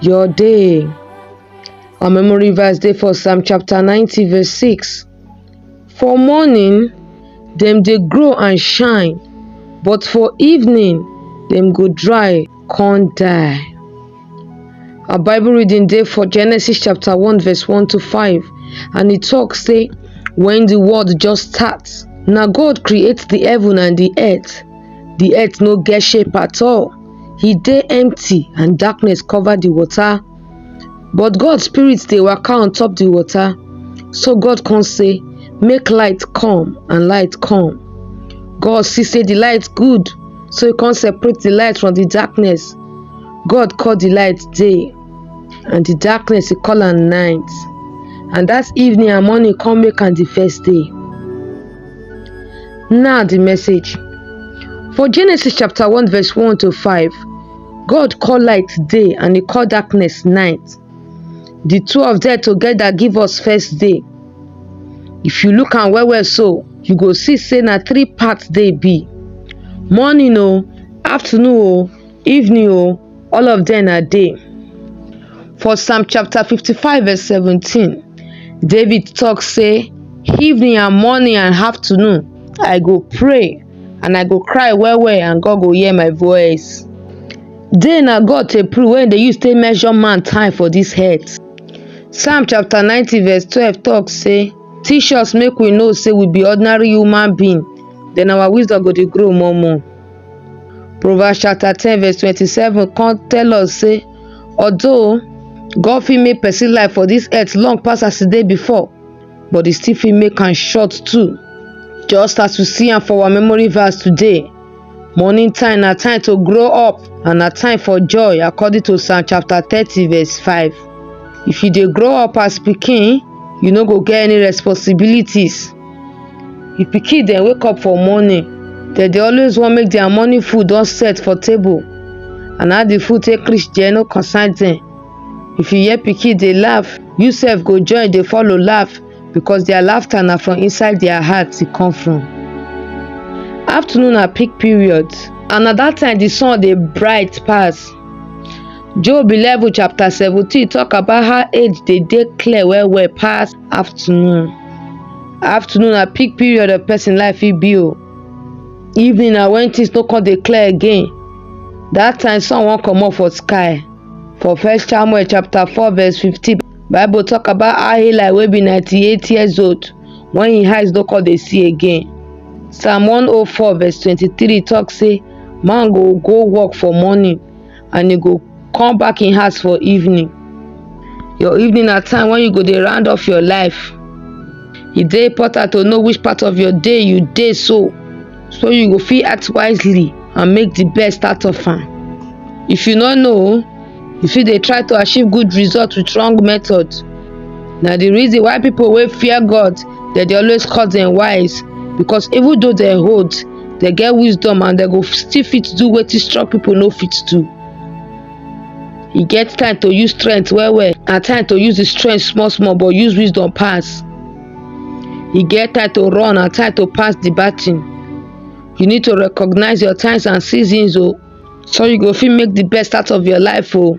your day. Our memory verse dey for Psalm chapter 90 verse 6. For morning dem dey grow and shine, but for evening dem go dry con die. Our Bible reading dey for Genesis chapter 1 verse 1 to 5 and e talk say when the world just start, na God create the heaven and the earth. The earth no get shape at all. e dey empty and darkness cover di water but god spirit dey waka on top di water so god come say make light come and light come god see say di light good so e come separate di light from di darkness god call di light day and di darkness e call am night and dat evening and morning come make am di first day Now the message. For Genesis chapter 1 verse 1 to 5, God called light day and he called darkness night. The two of them together give us first day. If you look and well well so, you go see say na three parts day be. Morning o, oh, afternoon o, oh, Evening o, all of them na day. For Psalm chapter 55 verse 17, David talk say, evening and morning and afternoon, I go pray and I go cry well well and God go hear my voice. Day na God take prove when they use take measure man time for this earth. Psalm chapter 90 verse 12 talk say, teach us make we know say we be ordinary human being, then our wisdom go dey grow more more. Proverbs chapter 10 verse 27 come tell us say although God fit make person life for this earth long pass as e dey before but e still fit make am short too. Just as we see am for our memory verse today, morning time na time to grow up and na time for joy according to Psalm chapter 30 verse 5. If you dey grow up as pikin, you no go get any responsibilities. If pikin dem wake up for morning, dem dey always want make their morning food don set for table. And how the food take reach there no concern them. If you hear pikin dey laugh, you sef go join dey follow laugh because their laughter na from inside their heart e come from. Afternoon na peak period and na that time the sun dey bright pass. Job 11 chapter 17 talk about how age dey dey clear well well pass afternoon afternoon na peak period of person life fit be o evening na when things no come dey clear again that time sun wan comot for sky for first samuel chapter four verse fifteen bible talk about how eli wey be ninety-eight years old when him eyes no come dey see again psalm one oh four verse twenty-three talk say man go go work for morning and you go come back in house for evening your evening na time when you go dey round off your life e dey important to know which part of your day you dey so so you go fit act wisely and make the best out of am if you no know you fit dey try to achieve good result with wrong method na the reason why people wey fear god dem dey always call dem wise because even though dem old dem get wisdom and dem go still fit do wetin strong people no fit do e get time to use strength well well and time to use the strength small small but use wisdom pass e get time to run and time to pass the baton you need to recognize your times and seasons o so you go fit make the best out of your life o.